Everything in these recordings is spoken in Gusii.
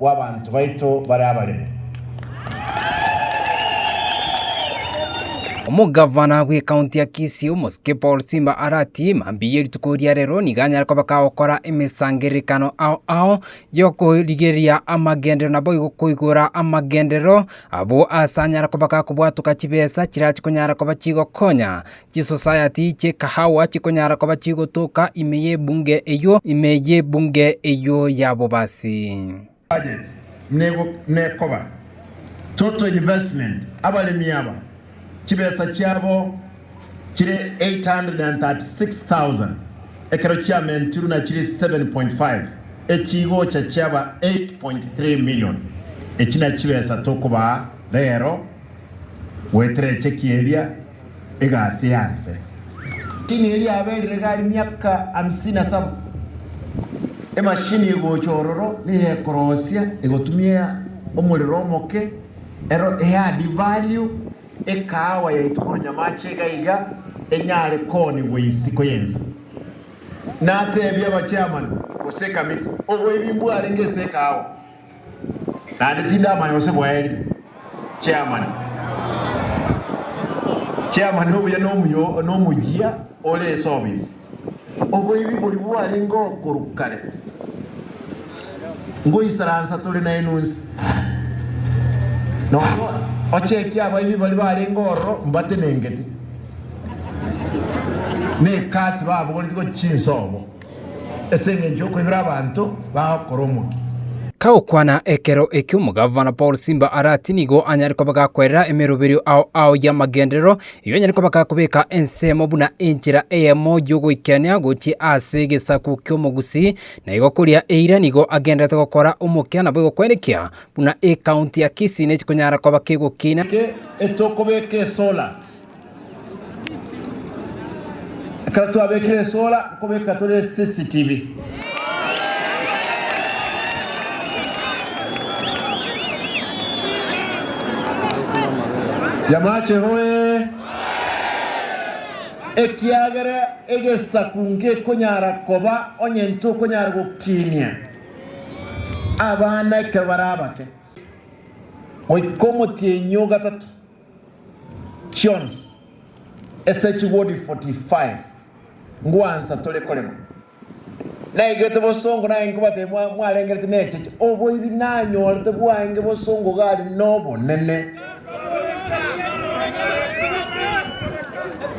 bw'abanto baito bare abaremu. Omogavana bw'ekaunti ya Kisii omosike Paul Simba are ati mambia ye rituko ria rero nigo anyare kobeka agokora emesangererekano ao ao y'okorigereria amagenderero naboigo koigora amagenderero abwo ase anyare kobeka kobwatoka chibesa chirachi konyara koba chigokonya Chisosayati chi'ekahawa chikonyara koba chigotoka ime y'ebunge eyio, ime y'ebunge eyio ya bobasi. Budget nekoba total investment abaremi aba chibesa chiabo chire 836,000 ekero chiamentirwe na chire 7.5 echi igocha chiaba 8.3 million. Echi nachibesa tokobaa rero goetera echekie eria. egasi eye aase. Tini eria yaberire iga aria miaka amisini na saba, emashini egocha ororo neyekorosia egotumia omorero omoke, ero eadd value ekaawa yaitwa korwa nyamache iga iga enyare koonigwa isiko yensi. Natebie aba chairman gose ekamiti, oboibi mbwarenge ase ekaawa. Naende tindamanya gose bwaeri. Chairman, Chairman obuya nomuyo nomoyia ore ase obisi. Oboibi boria bwarengeo korwa kare. Ngoisaransa tore naye nonsi. Nonya ochekie abaibi baria barenge ororo mbatenengete. Nekasi babogoretie gochia inse obo. As'engencho y'okoibera abanto bao koromokia. Kagokwana ekero ekio omogavana Paul Simba are ati nigo anyare koba gakwerera emeroberio ao ao y'amagenderero, erio anyare koba gakobeka ensemo buna enchera eyemo y'ogoikenia gochia ase egesaku ki'omogusi, na igo koria eira nigo agendererete gokora omokia nabo egokwenekia buna ecounty ya Kisii nechikonyara koba kegokina. Geke etokobeka esola. Ekero twabekire esola nkobeka tore CCTV. Yamache hoee! Ekiagera egesaku ngekonyara koba onye ntokonyara gokinia abana ekero bare abake. Goika omotienyi o gatato. chionsi ase chigodi 45 ngwansa tore korema. Naigete bosongo naye nkobatebia mwa- mwarengerete necheche oboibi nanyorete bwaenge bosongo gari nobonene.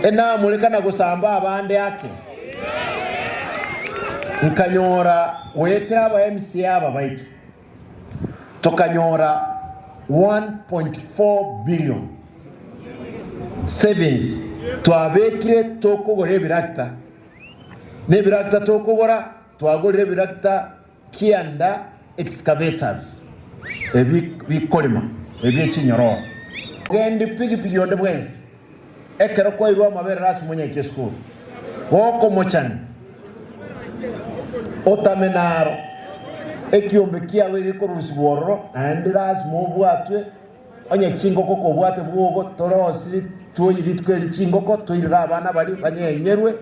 Enamoreka na gosamba abande ake. Nkanyora goetera aba MCA aba baito. tokanyora 1.4 billion savings twabekire tokogora ebiragita. Na ebiragita tokogora twagorire ebiragita kianda excavators ebi bikorema ebie chinyororo. Ogendi pigipigi onde bwensi. Ekero kwairwe amaberero ase omonyaiki esukuru, gokomochani, otame naro. Ekiombe kiago egekorurusibwa ororo, naende lasima obwatwe onye chingoko kobwate bwogo, torosiri tuoyi rituko eri chingoko, toirere abana baria banyenyerwe,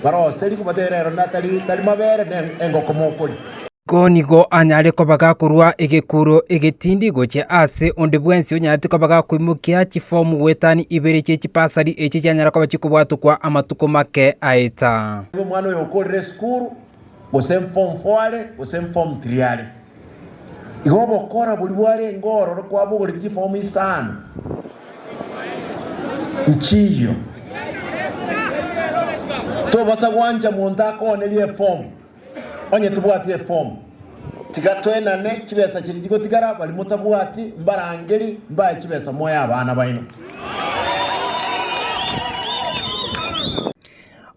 baroserigwe, batebe rero natari tari mabere, ne engoko mokoria. Iko nigo anyare kobaga korwa egekuro egetindi gochia aase onde bwensi onyaretie kobaga koimokia chifomu goetania ibere chie chibasari echi chianyara koba chikobwatokwa amatuko make aeta. Nigo omwana oyo okorire esukuru, gose form four are, gose form three are, igo obokora boria bwarenge ororo kwabogorire chifomu isano nchiiyio, tobasa gwancha monto akooonerie efomu. Onye tobwati efomu, tiga toenane chibesa chiria chigotigara. Baria motabwati mbarangeri mbae chibesa moe abana baino.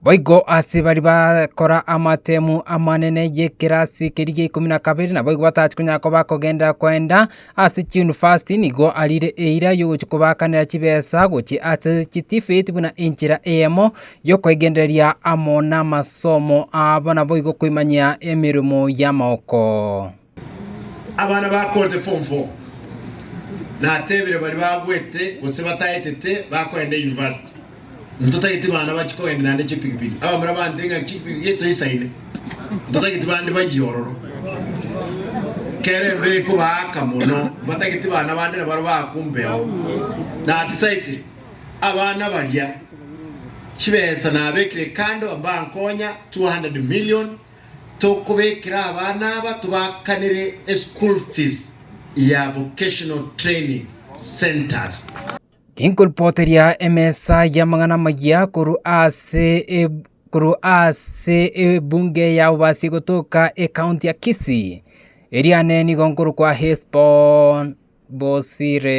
Boigo ase baria bakora amatemu amanene y'ekerasi keria gi'eikomi na kabere naboigo batachikonyara koba kogenda-koenda, Ase chiyunivasiti nigo arire eira y'ogochia kobaakanera chibesa gochia ase chitifeti buna enchera eyemo y'okoegendereria amo namasomo abo naboigo koimanyia emeremo y'amaoko. Abana bakorete form four natebire baria bagwete gose bataetete bakoenda university. Ntotageti bana bachie kogenda naende chipigipigi, abamura bante ng'a chipigipigi toisaine. Ntotageti bande bayie ororo. Kera embe ekobaaka mono, mbatageti bana bande nabaro baaka ombeo. Natisaete abana baria chibesa nabekire kando mbankonya 200 million tokobekera abana aba tobakanere eschool fees ya vocational training centres. Tinkoripoteria emesa y'amang'ana amayia korwa ase eb- korwa ase ebunge ya obobasie gotoka ekaonti ya Kisii, erio ane nigo nkorokwa Hesbon bosire.